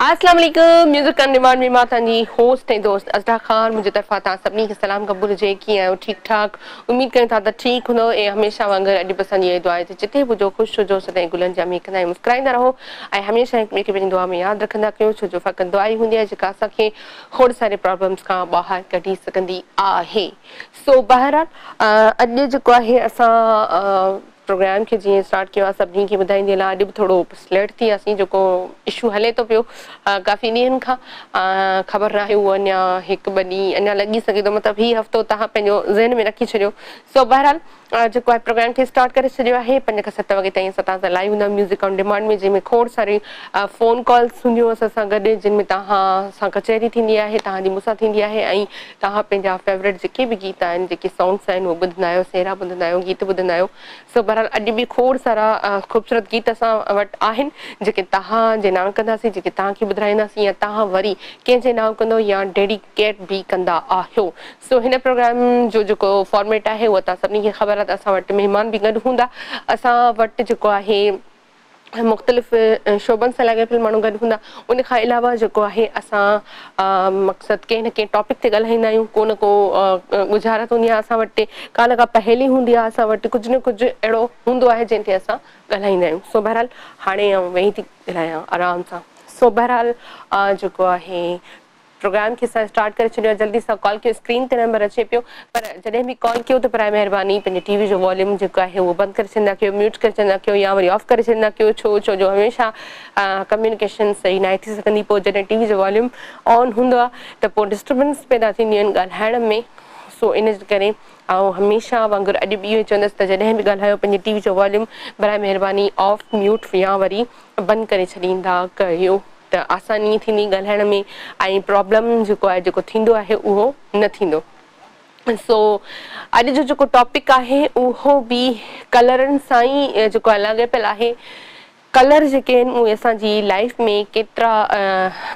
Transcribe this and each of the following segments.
اسلام عليڪم music on demand ۾ مان تهانجي هوسٽ ۽ دوست اظهرا خان منهنجي طرفان تهان سڀني کي سلام قبول هجي ڪيئن آهيو ٺيڪ ٺاڪ اميد ڪريون ٿا ته ٺيڪ هوندؤ ۽ هميشه وانگر اڄ به اسان جي اهي دعا آهي ته جتي به هجو خوش هجو سدائين گلن جيان مهڪندا ۽ مسڪرائيندا رهو ۽ هميشه هڪ ٻئي کي پنهنجي دعا ۾ ياد رکندا ڪيو ڇو جو فقط دعا ئي هوندي آهي جيڪا اسان کي کوڙ ساري پرابلمز کان ٻاهر ڪڍي سگهندي آهي سو بهرحال اڄ جيڪو آهي اسان پروگرام کي جيئن اسٽارٽ ڪيو آ سڀني کي ٻڌائيندي هلان اڄ به ٿورو سليٽ ٿي وياسين جيڪو اشو هلي ٿو پيو ڪافي ڏينهن کان خبر ناهي اهو اڃا هڪ ٻه ڏينهن اڃا لڳي سگهي ٿو مطلب هي هفتو توهان پنهنجو ذهن ۾ رکي ڇڏيو سو بهرحال جيڪو آهي پروگرام کي اسٽارٽ ڪري ڇڏيو آهي پنج کان ست وڳي تائين اسان تان سان لائيو هوندا ميوزڪ آن ڊيمانڊ ۾ جنهن ۾ کوڙ ساري فون ڪالز هونديون اسان سان گڏ جن ۾ توهان سان ڪچهري ٿيندي آهي توهان جي مون سان ٿيندي آهي ۽ توهان پنهنجا فيورٽ جيڪي به گيت آهن جيڪي سانگس آهن اهي ٻڌندا آهيو سهرا ٻڌندا آهيو گيت ٻڌندا آهيو سو بهرحال اڄ به کوڙ سارا خوبصورت گيت اسان وٽ آهن جيڪي توهان جي نانء ڪنداسين جيڪي توهان کي ٻڌرائينداسين يا توهان وري ڪنهن جي نانء ڪندو يا ڊيڊيڪيٽ به ڪندا آهيو سو هن پروگرام جو جيڪو فارميٽ آهي اهو توهان سڀني کي خبر آهي ته اسان وٽ مهمان به گڏ هوندا اسان وٽ جيڪو آهي مختلف شعبن سان لاڳاپيل ماڻهو گڏ هوندا ان کان علاوه جيڪو آهي اسان مقصد ڪنهن نه ڪنهن ٽاپڪ تي ڳالهائيندا آهيون ڪو نه ڪو ڳجهارت هوندي آهي اسان وٽ ڪا نه ڪا پهيلي هوندي آهي اسان وٽ ڪجهه نه ڪجهه اهڙو هوندو آهي جنهن تي اسان ڳالهائيندا آهيون سو بهرحال هاڻي آئون ويهي ٿي ڳالهايان آرام سان سو بهرحال جيڪو آهي پروگرام کي اسان اسٽارٽ ڪري ڇڏيو آهي جلدي سان ڪال ڪيو اسڪرين تي نمبر اچي پيو پر جڏهن به ڪال ڪيو ته برائي مهرباني پنهنجي ٽي وي جو واليوم جيڪو آهي اهو بند ڪري ڇڏيندا ڪيو ميوٽ ڪري ڇڏيندا ڪيو يا وري آف ڪري ڇڏيندا ڪيو ڇو ڇو جو هميشه ڪميونيڪيشن صحيح ناهي ٿي سگهندي پوء جڏهن ٽي وي جو واليوم آن هوندو آهي ته پوء ڊسٽربنس پيدا ٿينديون آهن ڳالهائڻ ۾ سو ان جي ڪري آئون هميشه وانگر اڄ به اهو ئي چوندس ته جڏهن به ڳالهايو پنهنجي ٽي وي جو واليوم برائي مهرباني آف ميوٽ يا وري بند ڪري ڇڏيندا ڪيو. ته آساني ٿيندي ڳالهائڻ ۾ ۽ پرابلم جيڪو آهي جيڪو ٿيندو آهي اهو نه ٿيندو سو اڄ جو جيڪو ٽاپڪ آهي اهو به ڪلرن سان ئي جيڪو آهي لاڳاپيل آهي ڪلر جيڪي آهن اهي اسان جي لائف ۾ ڪيترا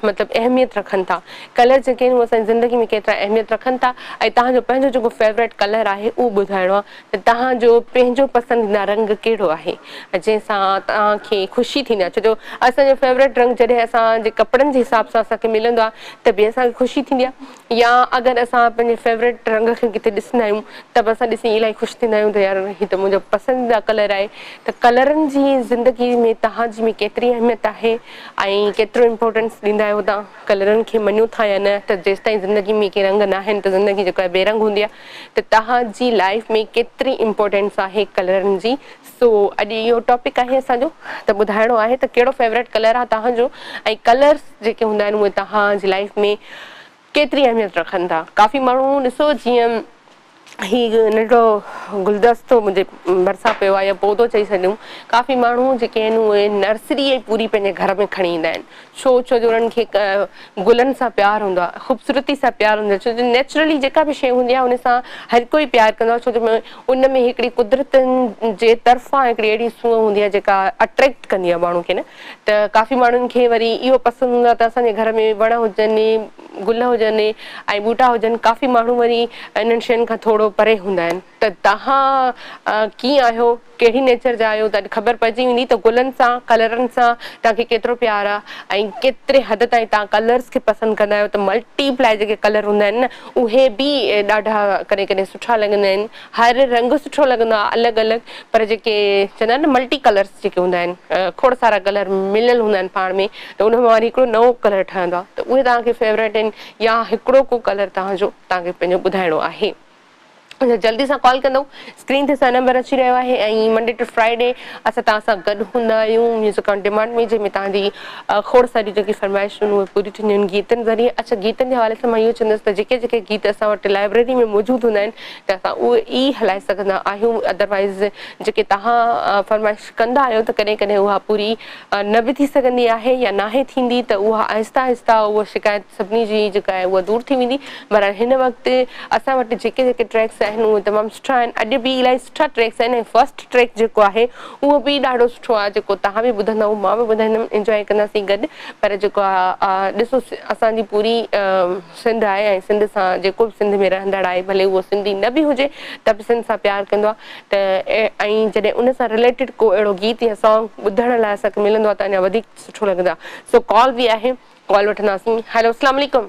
مطلب اهميت رکن ٿا ڪلر جيڪي آهن اهي اسان جي زندگي ۾ ڪيترا اهميت رکن ٿا ۽ تهان جو پنهنجو جيڪو فيوريٽ ڪلر آهي اهو ٻڌائڻو آهي توهان جو پنهنجو پسنديده رنگ ڪهڙو آهي جنهن سان توهان کي خوشي ٿيندي آهي ڇو جو اسان جو فيوريٽ رنگ جڏهن اسان جي ڪپڙن جي حساب سان اسان کي ملندو آهي ته به اسان کي خوشي ٿيندي آهي يا اگر اسان پنهنجي فيوريٽ رنگ کي ڪٿي ڏسندا آهيون ته به اسان ڏسي الائي خوش ٿيندا آهيون ته يار هي ته منهنجو پسنديده ڪلر آهي ته ڪلرن جي زندگي ۾ توهان جي ۾ ڪيتري اهميت آهي ۽ ڪيترو امپورٽنس ڏيندا آهيو توهان ڪلرن کي مڃيو ٿا يا نه ته جيستائين زندگي ۾ ڪي رنگ ناهن ته زندگي جيڪا بي رنگ هوندي آهي ته توهان جي لائيف ۾ ڪيتري امپورٽينس آهي ڪلرن جي سو اڄ اهو ٽاپڪ آهي اسان جو ته ٻڌائڻو آهي ته ڪهڙو فيوريٽ ڪلر آهي توهان جو ۽ ڪلرس جيڪي هوندا آهن اهي توهان جي لائيف ۾ ڪيتري اهميت رکن ٿا ڪافي ماڻهو ڏسو جيئن هي ننڍڙو گلدستو منهنجي ڀرسان پيو آهي يا پودو چئي سڏيون ڪافي ماڻهو جيڪي آهن اهي نرسري پوري پنهنجي گهر ۾ کڻي ايندا آهن ڇو؟ ڇو جو انهن کي گلن سان پيار هوندو آهي، خوبصورتي سان پيار هوندو آهي، ڇو جو نيچرلي جيڪا به شيء هوندي آهي ان سان هر ڪوئي پيار ڪندو آهي، ڇو جو ان ۾ هڪڙي قدرت جي طرفان هڪڙي اهڙي سونهن هوندي آهي جيڪا اٽريڪٽ ڪندي آهي ماڻهو کي نه ته ڪافي ماڻهن کي وري اهو پسند هوندو آهي ته اسان جي گهر ۾ وڻ هجن، گل هجن ۽ ٻوٽا هجن، ڪافي ماڻهو وري انهن شين کان ٿورو پري هوندا آهن. ته توهان ڪيئن آهيو، ڪهڙي نيچر جا آهيو ته اڄ خبر پئجي ويندي ته گلن سان، ڪلرن سان توهان کي ڪيترو پيار آ ۽ ڪيتري حد تائين توهان ڪلرز کي پسند ڪندا آهيو ته ملٽي پلائي جيڪي ڪلر هوندا آهن نه اهي به ڏاڍا ڪڏهن ڪڏهن سٺا لڳندا آهن هر رنگ سٺو لڳندو آ الڳ الڳ پر جيڪي چوندا آهن نه ملٽي ڪلرز جيڪي هوندا آهن کوڙ سارا ڪلر مليل هوندا آهن پاڻ ۾ ته ان مان وري هڪڙو نئون ڪلر ٺهندو آ ته اهي توهان کي فيوريٽ آهن يا هڪڙو ڪو ڪلر توهان جو توهان کي پنهنجو ٻڌائڻو آهي. اسان جلدي سان ڪال ڪندو اسڪرين تي اسان نمبر اچي رهيو آهي ۽ منڊي ٽو فرائيڊي اسان تان سان گڏ هوندا آهيون ميوزڪ آن ڊيمانڊ ۾ جنهن ۾ تان جي کوڙ ساري جيڪي فرمائشون اهي پوري ٿينديون آهن گيتن ذريعي اچا گيتن جي حوالي سان مان اهو چوندس ته جيڪي جيڪي گيت اسان وٽ لائبريري ۾ موجود هوندا آهن ته اسان اهي ئي هلائي سگهندا آهيون ادروائز جيڪي تهان فرمائش ڪندا آهيو ته ڪڏهن ڪڏهن اها پوري نه به ٿي سگهندي آهي يا ناهي ٿيندي ته اها آهسته آهسته اها شڪايت سڀني جي جيڪا آهي اها دور ٿي ويندي بھرحال ھن وقت اسان وٽ جيڪي جيڪي ٽريڪس آھن اھي تمام سٺا آھن اڄ به الاھي سٺا ٽريڪس آھن ۽ فرسٽ ٽريڪ جيڪو آھي اھو به ڏاڍو سٺو آھي جيڪو تھان به ٻڌندا اھو مان به ٻڌائيندم انجواء ڪنداسين گڏ پر جيڪو ڏسو اسان جي پوري سنڌ آھي ۽ سنڌ سان جيڪو به سنڌ ۾ رھندڙ آھي ڀلي اھو سنڌي نه به ھجي ته به سنڌ سان پيار ڪندو آھي ته ۽ جڏھن ان سان رليٽيڊ ڪو اھڙو گيت يا سانگ ٻڌڻ لاء اسان کي ملندو آھي ته اڃا وڌيڪ سٺو لڳندو آھي سو ڪال به آھي ڪال وٺنداسين ھلو اسلام عليڪم.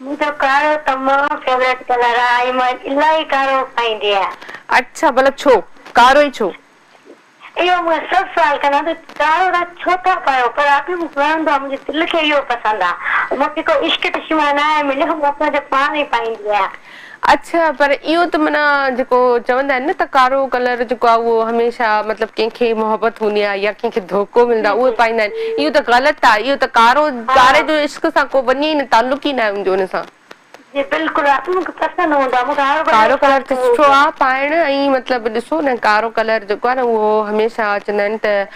منهنجو ڪارو تمام فيوريٽ ڪلر آ ۽ مان الاهي ڪارو پائيندي آهيان. اڇا ڀلا ڇو؟ ڪارو ئي ڇو؟ اهو مون کان سڀ سوال ڪندا ته ڪارو تان ڇو ٿا پايو پر ابي مون کي وڻندو آ منهنجي دل کي اهو پسند آ مون کي ڪو عشق دشمانا آهي مليو مان پنهنجو پاڻ ئي پائيندي آهيان. اڇا پر اهو ته معنيٰ جيڪو چوندا آهن نه ته ڪارو ڪلر جيڪو آهي اهو هميشه مطلب ڪنهن کي محبت هوندي آهي يا ڪنهن کي ڌوڪو ملندو جي آهي جي اهي پائيندا آهن اهو ته غلط آهي اهو ته ڪارو ها ڪاري جو عشق سان ڪو وڃي ئي نه تعلق ئي نه آهي ان سان جي بلڪل اصل مون کي پسند هوندو آهي مون کي هر ڪارو ڪلر ته سٺو آهي پائڻ ۽ مطلب ڏسو نه ڪارو ڪلر جيڪو آهي نه اهو هميشه چوندا آهن ته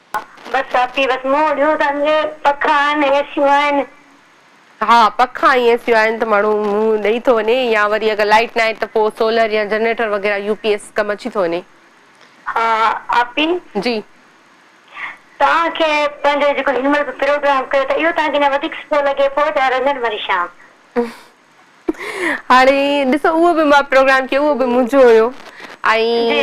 بس آپي بس موڙيون ته انجي پکا آهن اي سيون آهن. ها پکا ۽ اي سيون آهن ته ماڻهو منهن ڏئي ٿو وڃي يا وري اگر لائيٽ ناهي ته پو سولر يا جنريٽر وغيره يو پي ايس ڪم اچي ٿو وڃي. ها آپي جي. توهان کي پنهنجو جيڪو هن مهل به پروگرام ڪيو ته اهو توهان کي اڃا وڌيڪ سٺو لڳي پو جا رنگن مرشان. هاڻي ڏسو اهو به مان پروگرام ڪيو اهو به منهنجو هيو جي ۽ جي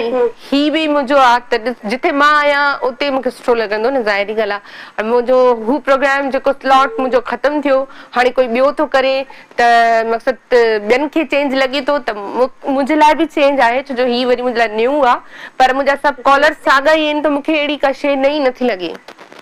هي به منهنجو آ ته ڏس جتي مان آهيان اتي مونکي سٺو لڳندو نه ظاهري ڳالهه آ ۽ منهنجو هو پروگرام جيڪو سلاٽ منهنجو ختم ٿيو هاڻي ڪوئي ٻيو ٿو ڪري ته مقصد ته ٻين کي چينج لڳي ٿو ته مون منهنجي لاء به چينج آهي ڇو جو هي وري منهنجي لاء نيون آ پر منهنجا سڀ جي ڪالرس ساڳا ئي آهن ته مونکي اهڙي ڪا شئي نئين نٿي لڳي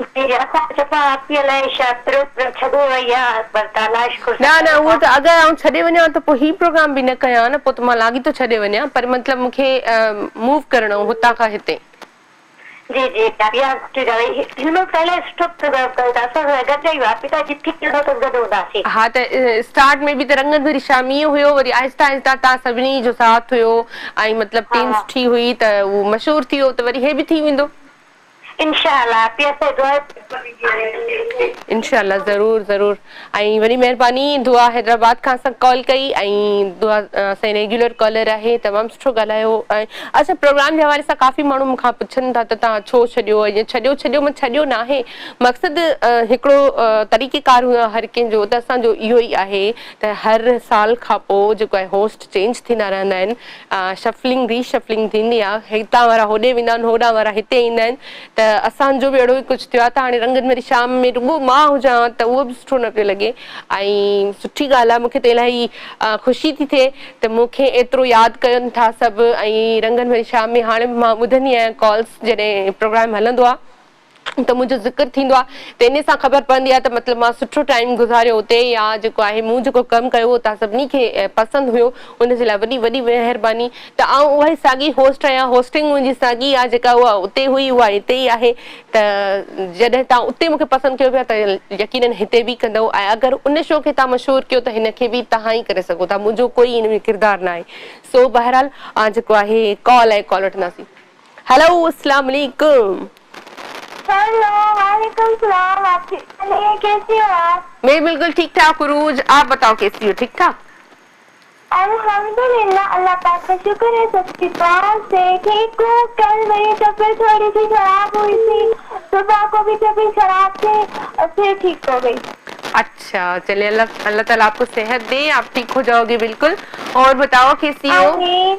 جي جي اسان چوٿان آء پي ايل ۽ شايد پرو پرو ڇڏي وئي يا پر تالاش ڪو نه نه اهو ته اگر آئون ڇڏي وڃان ته پوء هي پروگرام به نه ڪيان نه پوء ته مان لاڳيتو ڇڏي وڃان پر مطلب مون کي موو ڪرڻو هو هتان کان هتي. جي جي اها سٺي ڳالهه هئي هن مهل پهريان سٺو پروگرام ڪيو ته اسان سان گڏجا اهي آء پي ايل جي ٿي ويندو ته گڏ هونداسين. ها ته اسٽارٽ ۾ به ته رنگت ڀري شامي ئي هيو وري آهسته آهسته تان سڀني جو ساٿ هيو ۽ مطلب ٽيم سٺي هئي ته اهو مشهور ٿي ويو ته وري هي به ٿي ويندو. انشاء الله پيء سي دعا انشاء الله ضرور ضرور ۽ وڏي مهرباني دعا حيدرآباد کان اسان ڪال ڪئي ۽ دعا اسان ريگيولر ڪالر آهي تمام سٺو ڳالهايو اچھا پروگرام جي حوالي سان ڪافي ماڻهو مون کان پڇن ٿا ته تان ڇو ڇڏيو ائين ڇڏيو ڇڏيو مان ڇڏيو نه آهي مقصد هڪڙو طريقي ڪار هو هر ڪنهن جو ته اسان جو اهو ئي آهي ته هر سال کان پوء جيڪو آهي هوسٽ چينج ٿيندا رهندا آهن شفلنگ ري شفلنگ ٿيندي آ هتان وارا هوڏي ويندا آهن هوڏان وارا هتي ايندا آهن ته اسان جو به اهڙو ئي ڪجهه ٿيو آ ته هاڻي رنگن واري شام ۾ رڳو مان هجان ها ته اهو به سٺو نه پيو لڳي ۽ سٺي ڳالهه آ مون کي ته الاهي خوشي ٿي ٿئي ته مون کي ايترو ياد ڪن ٿا سڀ ۽ رنگن واري شام ۾ هاڻي به مان ٻڌندي آهيان ڪالز جڏهن پروگرام هلندو آ. ته منهنجو ذڪر ٿيندو آهي ته انهي سان خبر پوندي آهي ته مطلب مان سٺو ٽائيم گذاريو اتي يا جيڪو آهي مون جيڪو ڪم ڪيو هو توهان سڀني کي پسند هيو ان جي لاء وڏي وڏي مهرباني ته آئون اها ئي ساڳي هوسٽ آهيان هوسٽنگ منهنجي ساڳي آهي جيڪا اها اتي هئي اها هتي ئي آهي ته جڏهن توهان اتي مون کي پسند ڪيو پيا ته يقينن هتي به ڪندئو ۽ اگر ان شو کي توهان مشهور ڪيو ته هن کي به توهان ئي ڪري سگهو ٿا منهنجو ڪوئي ان ۾ ڪردار ناهي سو بهرحال آ جيڪو آهي ڪال آهي ڪال وٺنداسين. هيلو اسلام عليڪم. هيلو وعليڪم السلام آپي علي ڪيسي هو آپ. مين بلڪل ٺيڪ ٺاڪ عروج آپ بتاؤ ڪيسي هو ٺيڪ ٺاڪ. الحمدلله الله پاڪ ڪا شڪر هي سب ڪي دعا سي ٺيڪ هو ڪل ميري طبيعت ٿوڙي سي خراب هئي سي صبح ڪو بي طبيعت خراب ٿي پھر ٺيڪ هو گئي. اچھا چلي الله الله تعالي آپ ڪو صحت دي آپ ٺيڪ هو جائو گي بلڪل اور بتاؤ ڪيسي هو. آمين.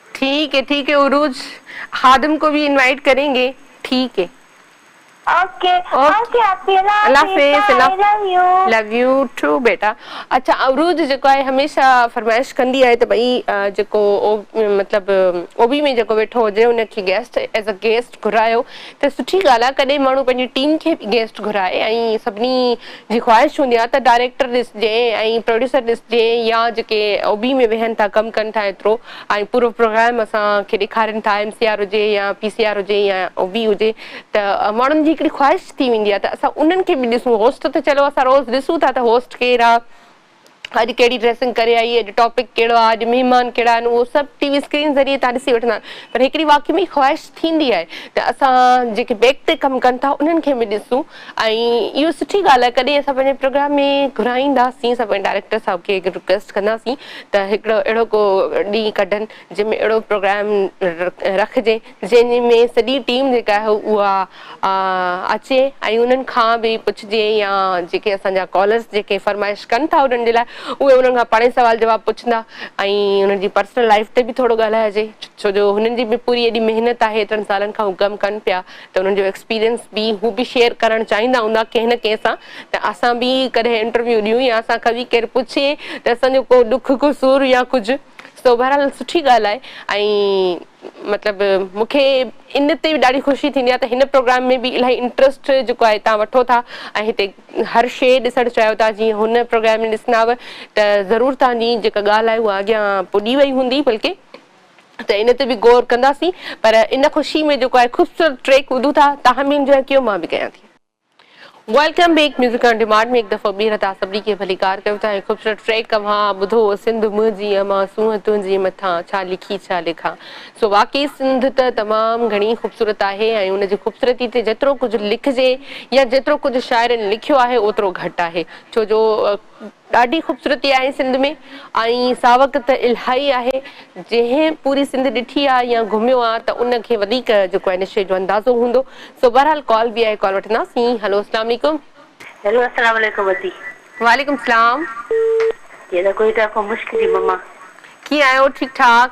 ٺيڪ هي ٺيڪ هي عروج خادم ڪو ڀي انوائيٽ ڪرين گي ٺيڪ هي. اوڪي اوڪي اپي الله حافظ ٽاٽا I love you. Love you too بيٽا اڇا عروج جيڪو آهي هميشه فرمائش ڪندي آهي ته ڀئي جيڪو مطلب اوبي ۾ جيڪو ويٺو هجي ان کي گيسٽ ايز ا گيسٽ گهرايو ته سٺي ڳالهه آهي ڪڏهن ماڻهو پنهنجي ٽيم کي به گيسٽ گهرائي ۽ سڀني جي خواهش هوندي آهي ته ڊائريڪٽر ڏسجي ۽ پروڊيوسر ڏسجي يا جيڪي اوبي ۾ ويهن ٿا ڪم ڪن ٿا ايترو ۽ پورو پروگرام اسان کي ڏيکارين ٿا ايم سي آر هجي يا پي سي آر هجي يا او بي هجي ته ماڻهن جي هڪڙي خواهش ٿي ويندي آهي ته اسان انهن کي به ڏسون هوسٽ ته چلو اسان روز ڏسون ٿا ته هوسٽ ڪير آهي اڄ ڪهڙي ڊريسنگ ڪري آئي اڄ ٽاپڪ ڪهڙو آهي اڄ مهمان ڪهڙا آهن اهو سڀ ٽي وي اسڪرين ذريعي تان ڏسي وٺندا آهن پر هڪڙي واقعي ۾ خواهش ٿيندي آهي ته اسان جيڪي بيڪ تي ڪم ڪن ٿا انهن کي به ڏسون ۽ اهو سٺي ڳالهه آهي ڪڏهن اسان پنهنجي پروگرام ۾ گهرائينداسين اسان پنهنجي ڊائريڪٽر صاحب کي رڪويسٽ ڪنداسين ته هڪڙو اهڙو ڪو ڏينهن ڪڍن جنهن ۾ اهڙو پروگرام رکجي جنهن ۾ سڄي ٽيم جيڪا آهي اها اچي ۽ انهن کان به پڇجي يا جيڪي اسان جا ڪالرس جيڪي فرمائش ڪن ٿا انهن جي لاء اهي انهن کان پاڻهي سوال جواب پڇندا ۽ انهن جي پرسنل لائف تي به ٿورو ڳالهائجي ڇو جو هنن جي به پوري ايڏي محنت آهي ايترن سالن کان هو ڪم ڪن پيا ته انهن جو ايڪسپيرينس به هو به شيئر ڪرڻ چاهيندا هوندا ڪنهن نه ڪنهن سان ته اسان به ڪڏهن انٽرويو ڏيون يا اسان کان به ڪير پڇي ته اسان جو ڪو ڏک ڪو سور يا ڪجهه سو بهرحال سٺي ڳالهه آهي ۽ مطلب مون کي ان تي به ڏاڍي خوشي ٿيندي آهي ته هن پروگرام ۾ به الاهي انٽرسٽ جيڪو آهي تان وٺو ٿا ۽ هتي هر شيء ڏسڻ چاهيو ٿا جيئن هن پروگرام ۾ ڏسنداو ته ضرور تان جي جيڪا ڳالهه آهي اها اڳيان پڄي وئي هوندي بلڪه ته ان تي به غور ڪنداسين پر ان خوشي ۾ جيڪو آهي خوبصورت ٽريڪ ٻڌون ٿا تاهمين جوان ڪيو مان به ڪيان ٿي. Welcome back music on demand ۾ هڪ دفعو ٻيهر تان سڀني کي ڀليڪار ڪيو ٿا ۽ خوبصورت ٽريڪ اوهان ٻڌو سنڌ منهنجي اما سونهن تنهنجي مٿان ڇا لکي ڇا لکان سو واقعي سنڌ ته تمام گهڻي خوبصورت آهي ۽ ان جي خوبصورتي تي جيترو ڪجهه لکجي يا جيترو ڪجهه شاعرن لکيو آهي اوترو گهٽ آهي ڇو جو ڏاڍي خوبصورتي آهي سنڌ ۾ ۽ ساوڪ ته الهائي آهي جنهن پوري سنڌ ڏٺي آ يا گهميو آ ته ان کي وڌيڪ جيڪو آهي نشي جو اندازو هوندو سو بهرحال ڪال به آهي ڪال وٺنداسين هلو اسلام عليڪم. هيلو اسلام عليڪم ادي. وعليڪم اسلام. جي ته ڪوئيٽا کان مشڪ جي مما. ڪيئن آهيو ٺيڪ ٺاڪ.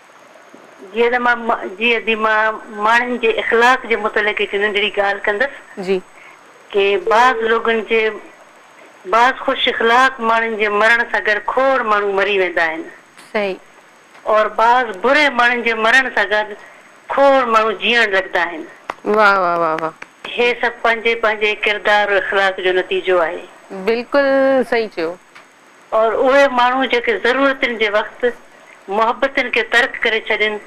جيئن ته مان جي ادي مان ماڻهن جي اخلاق جي متعلق هڪ ننڍڙي ڳالهه ڪندس. جي. ڪي بعض لوگن جي بعض خوش اخلاق ماڻهن جي مرڻ سان گڏ کوڙ ماڻهو مري ويندا آهن. صحيح. اور بعض بري ماڻهن جي مرڻ سان گڏ کوڙ ماڻهو جيئڻ لڳندا آهن. واھ واھ واھ واھ. هي سڀ پنهنجي پنهنجي ڪردار و اخلاق جو نتيجو آهي. بلڪل صحيح چيو. اور اهي ماڻهو جيڪي ضرورتن جي وقت محبتن کي ترڪ ڪري ڇڏين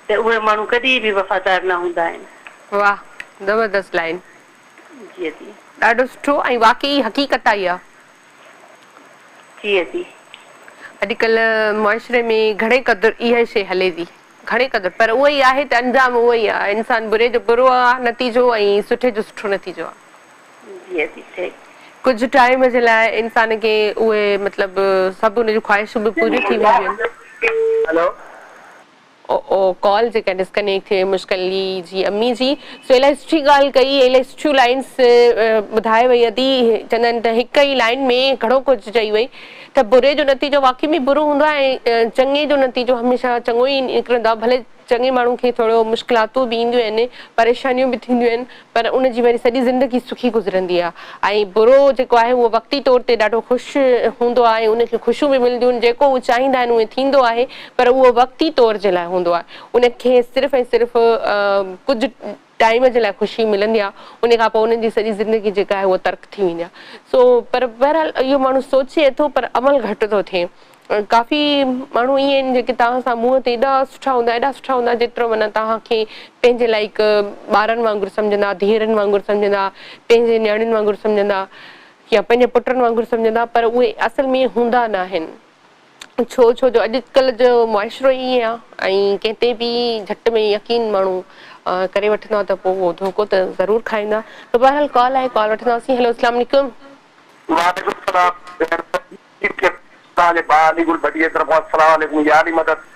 ته اهي ماڻهو ڪڏهن به وفادار نه هوندا آهن. واھ زبردست لائين. جي ادي. ڏاڍو سٺو ۽ واقعي حقيقت آ اها. جي ادي. اڄ ڪلهه معاشري ۾ گهڻي قدر اها شي هلي ٿي گهڻي قدر پر اهو ئي آهي ته انجام اهو ئي آ انسان بري جو برو آ نتيجو ۽ سٺي جو سٺو نتيجو آ. جيئي ٿي ٺهي. ڪجهه ٽائيم جي لاء انسان کي اهي مطلب سڀ ان جون خواهشون به پوريون ٿي وينديون آهن. او ڪال جيڪا ڊسڪنيڪٽ ٿي وئي مشڪلي جي امي جي سو الائي سٺي ڳالهه ڪئي الائي سٺيون لائنس ٻڌائي وئي ادي چوندا آهن ته هڪ ئي لائن ۾ گهڻو ڪجهه چئي وئي ته بري جو نتيجو واقعي ۾ برو هوندو آهي ۽ چڱي جو نتيجو هميشه چڱو ئي نڪرندو آهي ڀلي چڱي ماڻهو کي ٿورو مشڪلاتون به اينديون آهن، پريشانيون به ٿينديون آهن پر ان جي وري سڄي زندگي سکي گذرندي آهي ۽ برو جيڪو آهي اهو وقتي طور تي ڏاڍو خوش هوندو آهي ۽ ان کي خوشيون به ملنديون آهن جيڪو هو چاهيندا آهن اهي ٿيندو آهي پر اهو وقتي طور جي لاء هوندو آهي ان کي صرف ۽ صرف ڪجهه ٽائيم جي لاء خوشي ملندي آ انهي کان پوء انهن جي سڄي زندگي جيڪا آهي اها ترڪ ٿي ويندي آ سو پر بهرحال اهو ماڻهو سوچي ٿو پر عمل گهٽ ٿو ٿئي ڪافي ماڻهو ايئن آهن جيڪي توهان سان منهن تي ايڏا سٺا هوندا ايڏا سٺا هوندا جيترو معنيٰ توهان کي پنهنجي لائق ٻارن وانگر سمجهندا ڌيئرن وانگر سمجهندا پنهنجي نياڻين وانگر سمجهندا يا پنهنجي پٽن وانگر سمجهندا پر اهي اصل ۾ هوندا ناهن. ڇو ڇو جو اڄڪلهه جو معاشرو ئي ائين آهي ۽ ڪنهن تي به جهٽ ۾ يقين ماڻهو ڪري وٺندا ته پوء اهو ڌوڪو ته ضرور کائيندا ته بهرحال ڪال آهي ڪال وٺنداسين هيلو اسلام عليڪم. وعليڪم سلام ڀيڻ سڄي ٽيم کي توهان جي ڀاء علي گل ڀٽي جي طرفان سلام عليڪم يا علي مدد.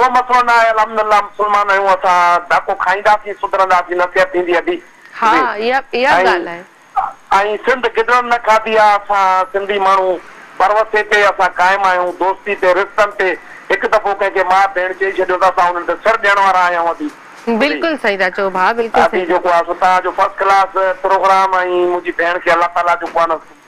ڪو مسئلو نه آهي الحمد الله مسلمان آهيون اسان ڌڪ کائينداسين سڌرنداسين نصيحت ٿيندي ادي ها جي اها اها ۽ ڳالهه آهي. ۽ سنڌ گدڙن نه کاڌي آ اسان سنڌي ماڻهو پروسي تي اسان قائم آهيون دوستي تي رشتن تي هڪ دفعو ڪنهن کي ماء ڀيڻ چئي ڇڏيو ته اسان انهن تي سر ڏيڻ وارا آهيون ادي ادي بلڪل صحيح ٿا چئو ڀاء بلڪل ادي صحيح. جيڪو آ سو توهان جو فرسٽ ڪلاس پروگرام ۽ منهنجي ڀيڻ کي الله تعالي جيڪو آ نه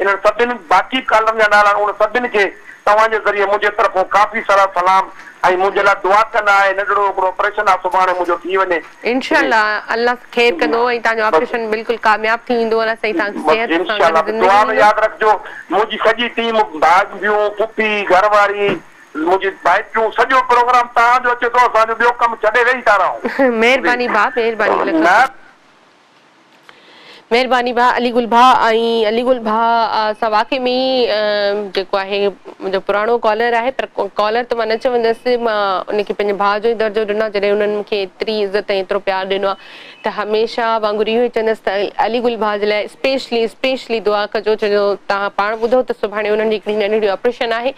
انهن سڀن باقي ڪالرن جا نالا انهن سڀن کي توهان جي ذريعي منهنجي طرفون ڪافي سارا سلام ۽ منهنجي لاء دعا ڪندا آهي ننڍڙو هڪڙو آپريشن آ سڀاڻي منهنجو ٿي وڃي انشاء جي الله الله خير جي ڪندو ۽ تهانجو بس آپريشن بلڪل ڪامياب ٿي ويندو الله سائين تهانکي بس صحت سان انشاء گڏ الله بس دعا زندگي ۾ ڏيندو. ياد رکجو منهنجي سڄي ٽيم ڀاڄيون پڦي گهر واري منهنجي ڀائٽيون سڄو پروگرام توهان جو اچي ٿو اسان جو ٻيو ڪم ڇڏي ويهي ٿا رهون جي مهرباني ڀاء مهرباني لک نه لک. مهرباني ڀاء علي گل ڀاء ۽ علي گل ڀاء سان واقعي ۾ ئي جيڪو آهي منهنجو پراڻو ڪالر آهي پر ڪالر ته مان نه چوندس مان ان کي پنهنجي ڀاء جو ئي درجو ڏنو آهي جڏهن انهن مون کي ايتري عزت ۽ ايترو پيار ڏنو آهي ته هميشه وانگر اهو ئي چوندس ته علي گل ڀاء جي لاء اسپيشلي اسپيشلي دعا ڪجو ڇو جو توهان پاڻ ٻڌو ته سڀاڻي انهن جي هڪڙي ننڍڙي آپريشن آهي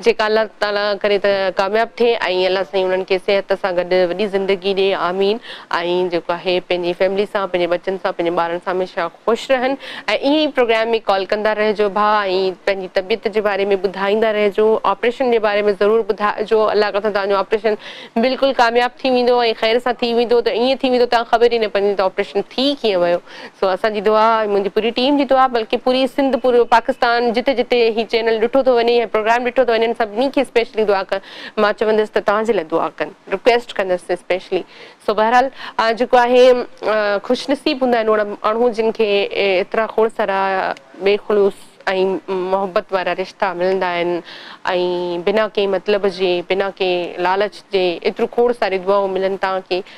جيڪا الله تعالي ڪري ته ڪامياب ٿئي ۽ الله سائين انهن کي صحت سان گڏ وڏي زندگي ڏي آمين ۽ جيڪو آهي پنهنجي فيملي سان پنهنجي ٻچن سان پنهنجي ٻارن سان هميشه خوش رهن ۽ ائين ئي پروگرام ۾ ڪال ڪندا رهجو ڀا ۽ پنهنجي طبيعت جي باري ۾ ٻڌائيندا رهجو آپريشن جي باري ۾ ضرور ٻڌائجو الله ڪري ته توهان جو آپريشن بلڪل ڪامياب ٿي ويندو ۽ خير سان ٿي ويندو ته ائين ٿي ويندو توهان کي خبر ئي نه پوندي ته آپريشن ٿي ڪيئن ويو سو اسان جي دعا ۽ منهنجي پوري ٽيم جي دعا بلڪه پوري سنڌ پورو پاڪستان جتي جتي هي چينل ڏٺو ٿو وڃي هي پروگرام ڏٺو ٿو وڃن سڀني کي اسپيشلي دعا ڪن مان چوندس ته توهان جي لاء دعا ڪن رڪويسٽ ڪندس اسپيشلي سو بهرحال جيڪو آهي خوش نصيب هوندا آهن اهڙا ماڻهو جن کي ايترا کوڙ سارا بي خلوص ۽ محبت وارا رشتا ملندا آهن ۽ بنا ڪنهن مطلب جي بنا ڪنهن لالچ جي ايترو کوڙ ساري دعائون ملن تان ڪي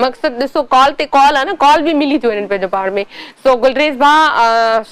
مقصد ڏسو ڪال تي ڪال آ نه ڪال به ملي ٿيون وڃن پنهنجو پاڻ ۾ سو گلريز ڀاء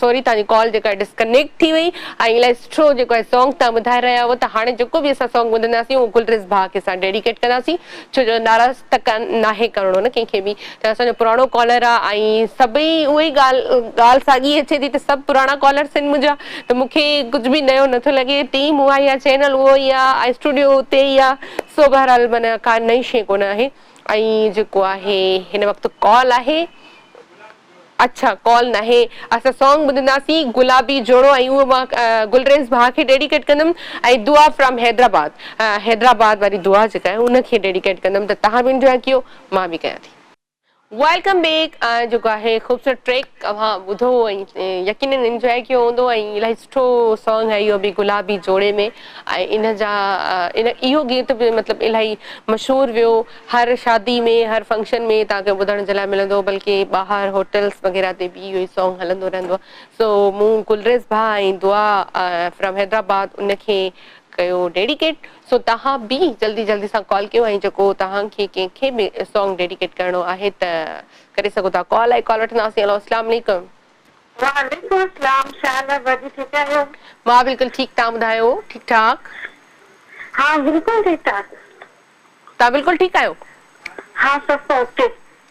سوري توهان جي ڪال جيڪا ڊسڪنيڪٽ ٿي وئي ۽ الائي سٺو جيڪو آهي سانگ توهان ٻڌائي رهيا هئو ته هاڻي جيڪو به اسان سانگ ٻڌنداسين اهو گلريز ڀاء کي اسان ڊيڊيڪيٽ ڪنداسين ڇو جو ناراض ته ناهي ڪرڻو نه ڪنهن کي به ته اسان جو پراڻو ڪالر آ ۽ سڀئي اهو ئي ڳالهه ڳالهه ساڳي اچي ٿي ته سڀ پراڻا ڪالرس آهن منهنجا ته مون کي ڪجهه به نيو نٿو لڳي ٽيم اها ئي آ چينل اهو ئي آ ۽ اسٽوڊيو اتي ئي آ سو بهرحال من ڪا نئين شئي ڪونه آهي ۽ جيڪو آهي هن وقت ڪال آهي اڇا ڪال ناهي اسان سانگ ٻڌنداسين گلابي جوڙو ۽ اهو مان گلريز ڀاء کي ڊيڊيڪيٽ ڪندم ۽ دعا فرام حيدرآباد حيدرآباد واري دعا جيڪا آهي ان کي ڊيڊيڪيٽ ڪندم ته تهان به انجوائي ڪيو مان به ڪيان ٿي. ويلڪم بيڪ جيڪو آهي خوبصورت ٽريڪ اوهان ٻڌو ۽ يقينن انجوائي ڪيو هوندو ۽ الاهي سٺو سانگ آهي اهو به گلابي جوڙي ۾ ۽ ان جا ان اهو گيت به مطلب الاهي مشهور ويو هر شادي ۾ هر فنڪشن ۾ تان کي ٻڌڻ جي لاء ملندو بلڪه ٻاهر هوٽلس وغيره تي به اهو ئي سانگ هلندو رهندو سو مون گلريز ڀا ۽ دعا فرام حيدرآباد ان کي ڪيو ڊيڊيڪيٽ سو توهان به جلدي جلدي سان ڪال ڪيو ۽ جيڪو توهان کي ڪنهن کي به سانگ ڊيڊيڪيٽ ڪرڻو آهي ته ڪري سگهو ٿا ڪال آئي ڪال وٺنداسين هلو السلام عليڪم. وعليڪم السلام شال احبا جي ٺيڪ آهيو. مان بلڪل ٺيڪ توهان ٻڌايو ٺيڪ ٺاڪ. ها بلڪل ٺيڪ ٺاڪ. توهان بلڪل ٺيڪ آهيو. ها سڀ اوڪي.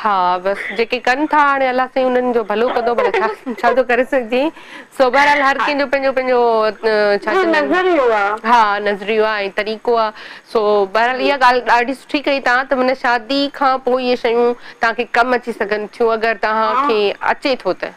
ها بس جيڪي ڪن ٿا هاڻي الله سائين انهن جو ڀلو ڪندو ڀلا ڇا ڇا ٿو ڪري سگهجي سو بهرحال هر ڪنهن جو پنهنجو پنهنجو ڇا جو چئبو آهن نظريو آ. ها نظريو آ ۽ طريقو آ سو بهرحال اها ڳالهه ڏاڍي سٺي ڪئي توهان ته من شادي کان پوء اهي شيون توهان کي ڪم اچي سگهن ٿيون اگر توهان کي اچي ٿو ته.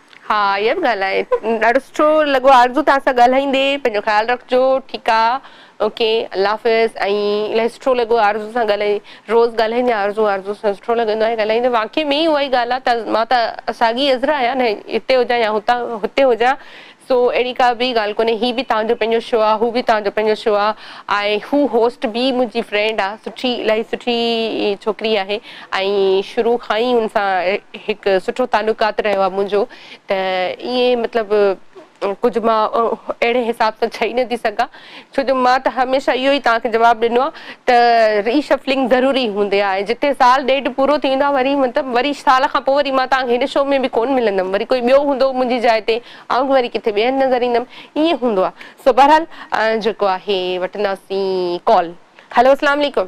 ها اها به ڳالهه آهي ڏاڍو سٺو لڳو آرزو توهان سان ڳالهائيندي پنهنجو خيال رکجو ٺيڪ آ. اوڪي الله حافظ ۽ الاهي سٺو لڳو آرزو سان ڳالهائي روز ڳالهائيندي آرزو آرزو سان سٺو لڳندو آهي ڳالهائيندي واقعي ۾ ئي اها ئي ڳالهه آ ته مان ته ساڳي عذرا آهيان نه هتي هجان يا هتان هتي هجان سو اهڙي ڪا به ڳالهه ڪونهي هي به توهان جو پنهنجو شو آ هو به توهان جو پنهنجو شو آ ۽ هو هوسٽ به منهنجي فرينڊ آ سٺي الاهي سٺي ڇوڪري آهي. ۽ شروع کان ئي ان سان هڪ سٺو تعلقات رهيو آهي منهنجو ته ائين مطلب ڪجهه مان اهڙي حساب سان چئي نٿي سگهان ڇو جو مان ته هميشه اهو ئي توهان کي جواب ڏنو آهي ته ري شفلنگ ضروري هوندي آهي جتي سال ڏيڍ پورو ٿي ويندو آهي وري مطلب وري سال کان پوء وري مان توهان کي هن شو ۾ به ڪونه ملندم وري ڪوئي ٻيو هوندو منهنجي جاء تي آئون به وري ڪٿي ٻيهر نظر ايندم ائين هوندو آهي سو بهرحال جيڪو آهي وٺنداسين ڪال هلو اسلام عليڪم.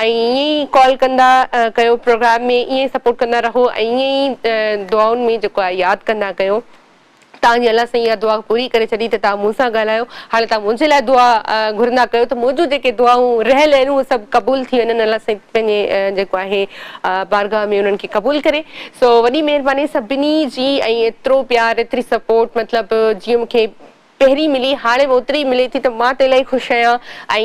ائين ئي ڪال ڪندا ڪيو پروگرام ۾ ائين ئي سپورٽ ڪندا رهو ۽ ائين ئي دعائن ۾ جيڪو آهي ياد ڪندا ڪيو تان جي الله سائين اها دعا پوري ڪري ڇڏي ته تان مون سان ڳالهايو هاڻي تان منهنجي لاء دعا گهرندا ڪيو ته منهنجون جيڪي دعائون رهيل آهن اهي سڀ قبول ٿي وڃن الله سائين پنهنجي جيڪو آهي بارگاهه ۾ انهن کي قبول ڪري سو وڏي مهرباني سڀني جي ۽ ايترو پيار ايتري سپورٽ مطلب جيئن مون کي پهرين ملي هاڻي به اوتري ئي ملي ٿي ته مان ته الاهي خوش آهيان ۽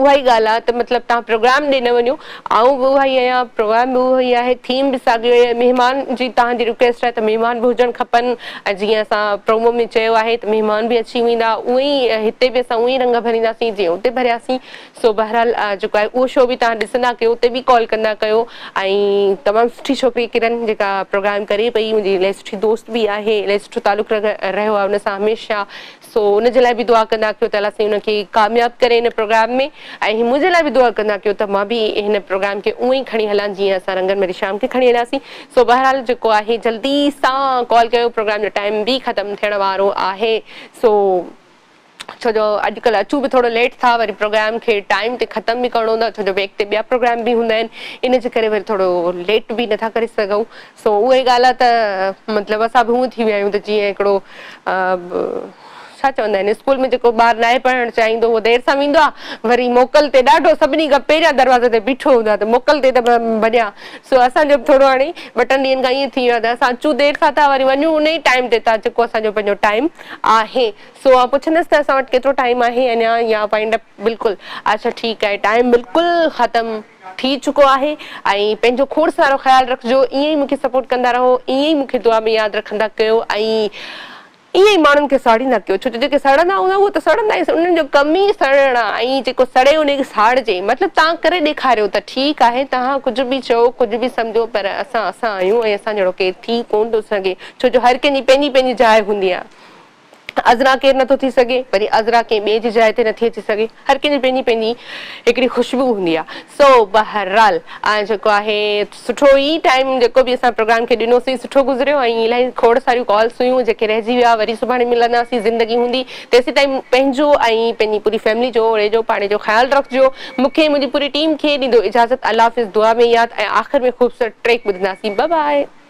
اها ئي ڳالهه آهي ته مطلب توهان پروگرام ڏي نه وڃو آئون به اها ئي آهيان پروگرام به اهو ئي آهي ٿيم به ساڳيو آهي مهمان جي توهان جي رڪويسٽ آهي ته مهمان به هجڻ کپن ۽ جيئن اسان پرومو ۾ چيو آهي ته مهمان به اچي ويندا اهو ئي هتي به اسان اهو ئي رنگ ڀرينداسين جيئن اتي ڀرياسين سو بهرحال جيڪو آهي اهو شو به توهان ڏسندا ڪيو اتي به ڪال ڪندا ڪيو ۽ تمام سٺي ڇوڪري ڪرن جيڪا پروگرام ڪري پئي منهنجي الائي سٺي دوست به آهي الائي سٺو تعلق رهيو آهي ان سان هميشه سو ان جي لاء به دعا ڪندا ڪيو ته الله سائين ان کي ڪامياب ڪري ان پروگرام ۾ ۽ منهنجي لاء به دعا ڪندا ڪيو ته مان به هن پروگرام کي اونئين کڻي هلان جيئن اسان رنگن ميري شام کي کڻي هلياسين سو بهرحال جيڪو آهي جلدي سان ڪال ڪيو پروگرام جو ٽائيم به ختم ٿيڻ وارو آهي سو ڇو جو اڄ ڪلهه اچون به ٿورو ليٽ ٿا وري پروگرام کي ٽائيم تي ختم به ڪرڻو هوندو آهي ڇو جو بيڪ تي ٻيا پروگرام به هوندا آهن ان جي ڪري وري ٿورو ليٽ به نٿا ڪري سگهون سو اها ئي ڳالهه آهي ته مطلب اسان به هونئن ٿي ويا آهيون ته جيئن هڪڙو ڇا چوندا آهن اسڪول ۾ جيڪو ٻار ناهي پڙهڻ چاهيندو اهو دير سان ويندو آهي وري موڪل تي ڏاڍو سڀني کان پهريان دروازي تي بيٺو هوندو آهي ته موڪل تي ته ڀڄان سو اسان جو به ٿورو هاڻي ٻه ٽن ڏينهن کان ائين ٿي ويو آهي ته اسان اچون دير سان ٿا وري وڃون ان ئي ٽائيم تي ٿا جيڪو اسان جو پنهنجو ٽائيم آهي سو آء پڇندس ته اسان وٽ ڪيترو ٽائيم آهي اڃا يا وائنڊ اپ بلڪل اڇا ٺيڪ آهي ٽائيم بلڪل ختم ٿي چڪو آهي ۽ پنهنجو کوڙ سارو خيال رکجو ائين ئي مونکي سپورٽ ڪندا رهو ائين ئي مونکي دعا ۾ ياد رکندا ڪيو ۽ ائين ئي ماڻهن کي ساڙيندا ڪيو ڇو ته جيڪي سڙندا هوندا اهي ته سڙندا ئي انهن جو ڪم ئي سڙڻ آ ۽ جيڪو سڙي انهي کي ساڙجي مطلب تان ڪري ڏيکاريو ته ٺيڪ آهي تهان ڪجهه به چئو ڪجهه به سمجهو پر اسان اسان آهيون ۽ اسان جهڙو ڪير ٿي ڪون ٿو سگهي ڇو جو هر ڪنهن جي پنهنجي پنهنجي جاء هوندي آ. عذرا ڪير نٿو ٿي سگهي، وري عذرا ڪنهن ٻئي جي جاء تي نٿي اچي سگهي، هر ڪنهن جي پنهنجي پنهنجي هڪڙي خوشبو هوندي آ، سو بهرحال آء جيڪو آهي سٺو ئي ٽائيم جيڪو به اسان پروگرام کي ڏنوسين سٺو گذريو ۽ الائي کوڙ ساريون ڪالس هيون جيڪي رهجي ويا وري سڀاڻي ملنداسين زندگي هوندي تيسيتائين پنهنجو ۽ پنهنجي پوري فيملي جو اڙي جو پاڙي جو خيال رکجو مون کي ۽ منهنجي پوري ٽيم کي ڏيندو اجازت الله حافظ دعا ۾ ياد ۽ آخر ۾ خوبصورت ٽريڪ ٻڌنداسين بباء.